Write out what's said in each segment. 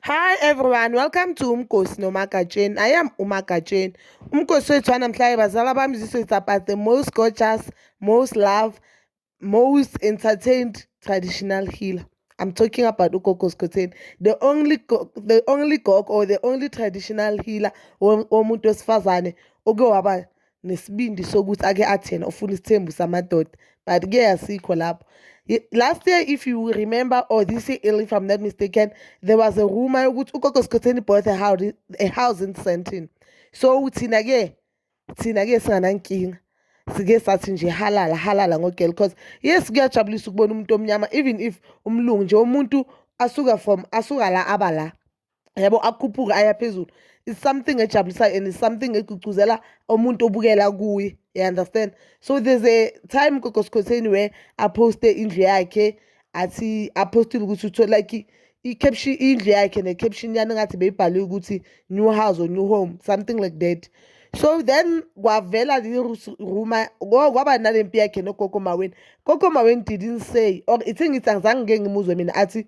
Hi everyone, welcome to Umkosi Nomagatsheni. I am Umagatsheni. Umkosi wethu namhlanje bazala bami this is about the most gorgeous, most love, most entertained traditional healer. I'm talking about Ukoko Skoten, the only the only gok or the only traditional healer womuntu wesifazane oke waba nesibindi sokuthi ake athi yena ufuna isithembu samadoda but ke asikho lapho last year if you remember or this year if i'm not mistaken there was a rumor yokuthi ugogo sikhotheni bought a house, a house in sentin so thina ke thina ke singanankinga sike sathi nje halala halala ngogirl because yes kuyajabulisa ukubona umuntu omnyama even if umlungu nje umuntu asuka from asuka la aba la yabo akhuphuke aya phezulu is something ejabulisayo and is something egcugcuzela umuntu obukela kuye you understand so there's a time kokosikhotheni where aposte indlu yakhe athi apostile ukuthi utho like i-caption indlu yakhe ne-caption yani ngathi beyibhaliwe ukuthi new house or new home something like that so then kwavela ruma kwaba nale mpi yakhe nogogo maweni gogo maweni didn't say or ithi ngithi angizange ngike ngimuzwe mina athi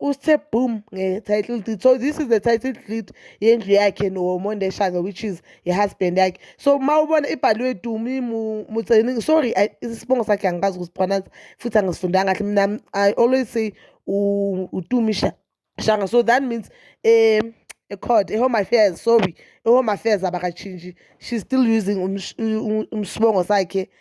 use boom nge-title deed so this is the title deed yendlu yakhe nomonde shaka which is i-husband yakhe so ma ubona ibhaliwe dumi mutseni sorry isibongo sakhe angikwazi ukusipronounce futhi angisifundanga kahle mina i always say udumi shanga so that means um a court ehome affairs sorry ehome affairs abakatshintshi she's still using umsibongo sakhe um,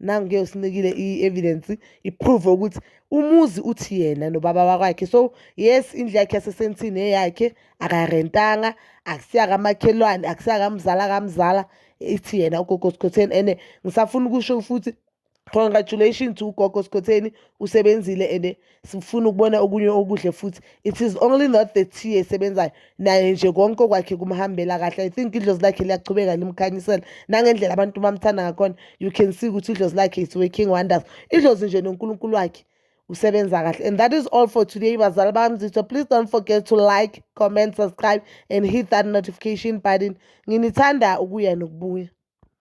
nangu-ke usinikile i-evidence i-proof ukuthi umuzi uthi yena nobaba wakwakhe so yes indlu yakhe yasesentini eyakhe akarentanga akusiyakamakhelwane akusiyakamzala kamzala ithi yena ugogo sikhotheni and ngisafuna ukusho futhi congratulations to ugogo sikhotheni usebenzile and sifuna ukubona okunye okuhle futhi it is only not the tea esebenzayo naye nje konke okwakhe kumhambela kahle i think idlozi lakhe liyaqhubeka limkhanyisela nangendlela abantu bamthanda ngakhona you can see ukuthi idlozi lakhe is working wonders idlozi nje nonkulunkulu wakhe usebenza kahle and that is all for today bazali bamzitho please don't forget to like comment subscribe and hit that notification button nginithanda ukuya nokubuya